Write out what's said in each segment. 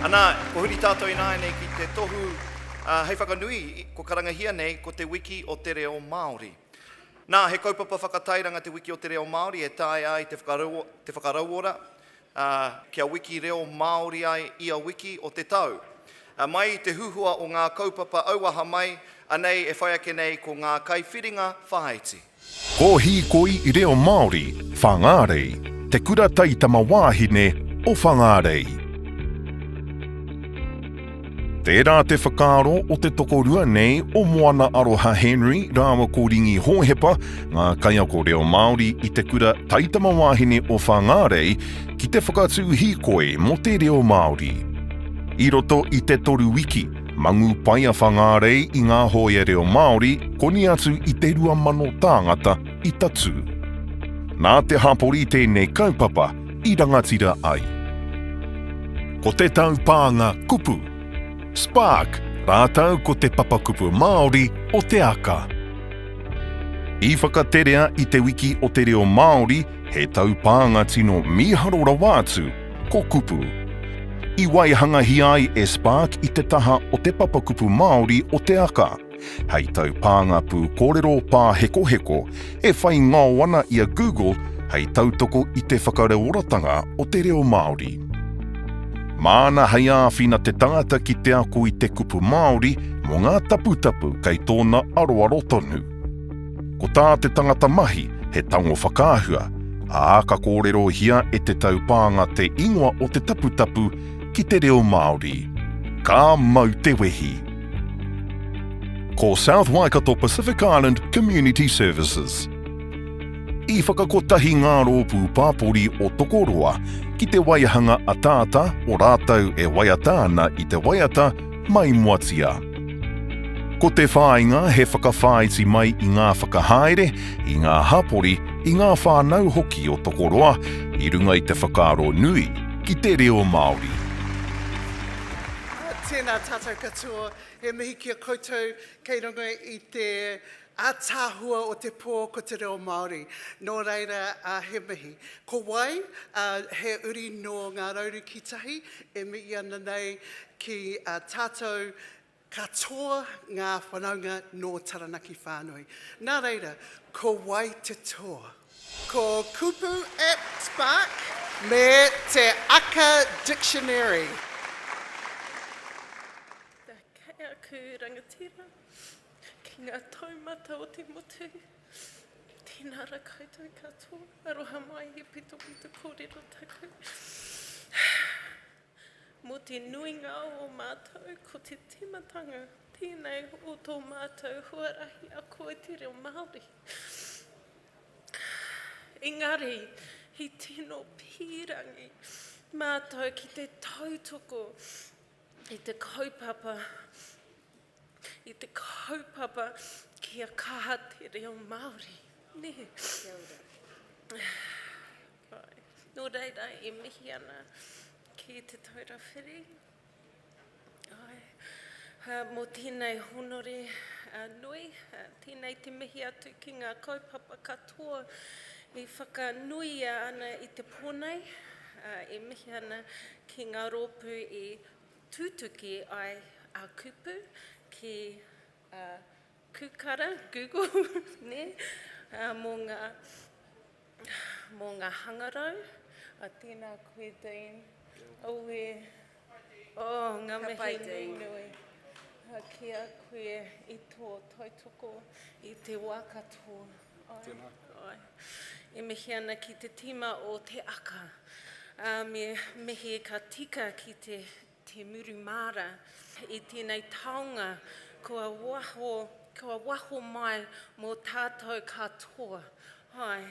Ana, kua huri tātou ināianei ki te tohu hei whakanui, kua karangahia nei ko Te Wiki o te Reo Māori. Nā, he kaupapa whakatairanga Te Wiki o te Reo Māori e taea ai te whakarauora kia wiki reo Māori ai ia wiki o te tau. Mai i te huhua o ngā kaupapa auaha mai, anei e whai ake nei ko ngā kaiwhiringa whāiti. Ko Hīkoi reo Māori, Whangārei, te kura taitama wāhine o Whangārei. Tērā te whakaaro o te tokorua nei o Moana Aroha Henry rāua ko Ringi Hōhepa, ngā kaiako reo Māori i te kura taitama wāhine o Whangārei, ki te whakatū hīkoi mō te reo Māori. I roto i te toru wiki, Mangu pai a Whangārei i ngā hōia reo Māori, koni atu i te 2,000 tāngata i tatū. Nā te hapori tēnei kaupapa i rangatira ai. Ko te taupānga kupu, Spark rātou ko te papakupu Māori o Te Aka. I whakaterea i Te Wiki o te Reo Māori he taupānga tino mīharo rawa atu, ko Kupu. I waihangahia ai e Spark i te taha o te papakupu Māori o Te Aka, hei taupānga pūkōrero pāhekoheko e whai ngao ana i a Google hei tautoko i te whakareoratanga o te reo Māori. Māna hei āwhina te tangata ki te ako i te kupu Māori mō ngā taputapu kei tōna aroaro tonu. Ko tā te tangata mahi, he tango whakaahua, ā, ka kōrerohia e te taupānga te ingoa o te taputapu ki te reo Māori. Ka mau te wehi! Ko South Waikato Pacific Island Community Services. I whakakotahi ngā rōpū pāpori o Tokoroa ki te waihanga ataata o rātou e waiata ana i te waiata Maimoatia. Ko te whāinga he whakawhāiti mai i ngā whakahaere, i ngā hapori, i ngā whānau hoki o Tokoroa i runga i te whakaaro nui ki te reo Māori. Tēnā tātou katoa, he mihi ki a koutou kei runga i te Ataahua o te pō ko te reo Māori, nō reira he mihi. Ko wai? He uri nō Ngā Rauruki Tahi e mihi ana nei ki a tātou katoa ngā whanaunga nō Taranaki whānui. Nā reira, ko wai te toa? Ko Kupu App Spark me te Aka Dictionary. Kia kaea aku rangatira. Ki ngā taumata o te motu, tēnā ra koutou katoa. Aroha mai he pitopito kōrero taku. Mō te nuinga o ō mātou, ko te tīmatanga tēnei o tō mātou huarahi ako i te reo Māori. Engari, he tino pīrangi mātou ki te tautoko i te kaupapa i te kaupapa kia kaha te reo Māori, nē? Kia ora. Āe. Nō reira, e mihi ana ki Te Taura Whiri. Āe. Ā, mō tēnei hōnore nui, tēnei te mihi atu ki ngā kaupapa katoa i whakanuia ana i te pō nei. Ā, e mihi ana ki ngā rōpū i Tutuki ai a kupu ki a Kukara, Google, ne, mo nga mo nga hangarau, a tena koe Dean, aue oh nga mihi nui nui ki a koe i to tautoko i te wa katoa. Tēnā. Oi. E mihi ana ki te tīma o Te Aka. Uh, me mihi ka tika ki te, te muru māra i tēnei taonga kua waho, kua waho mai mō tātou katoa. Hai.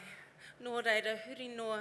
Nō reira, huri noa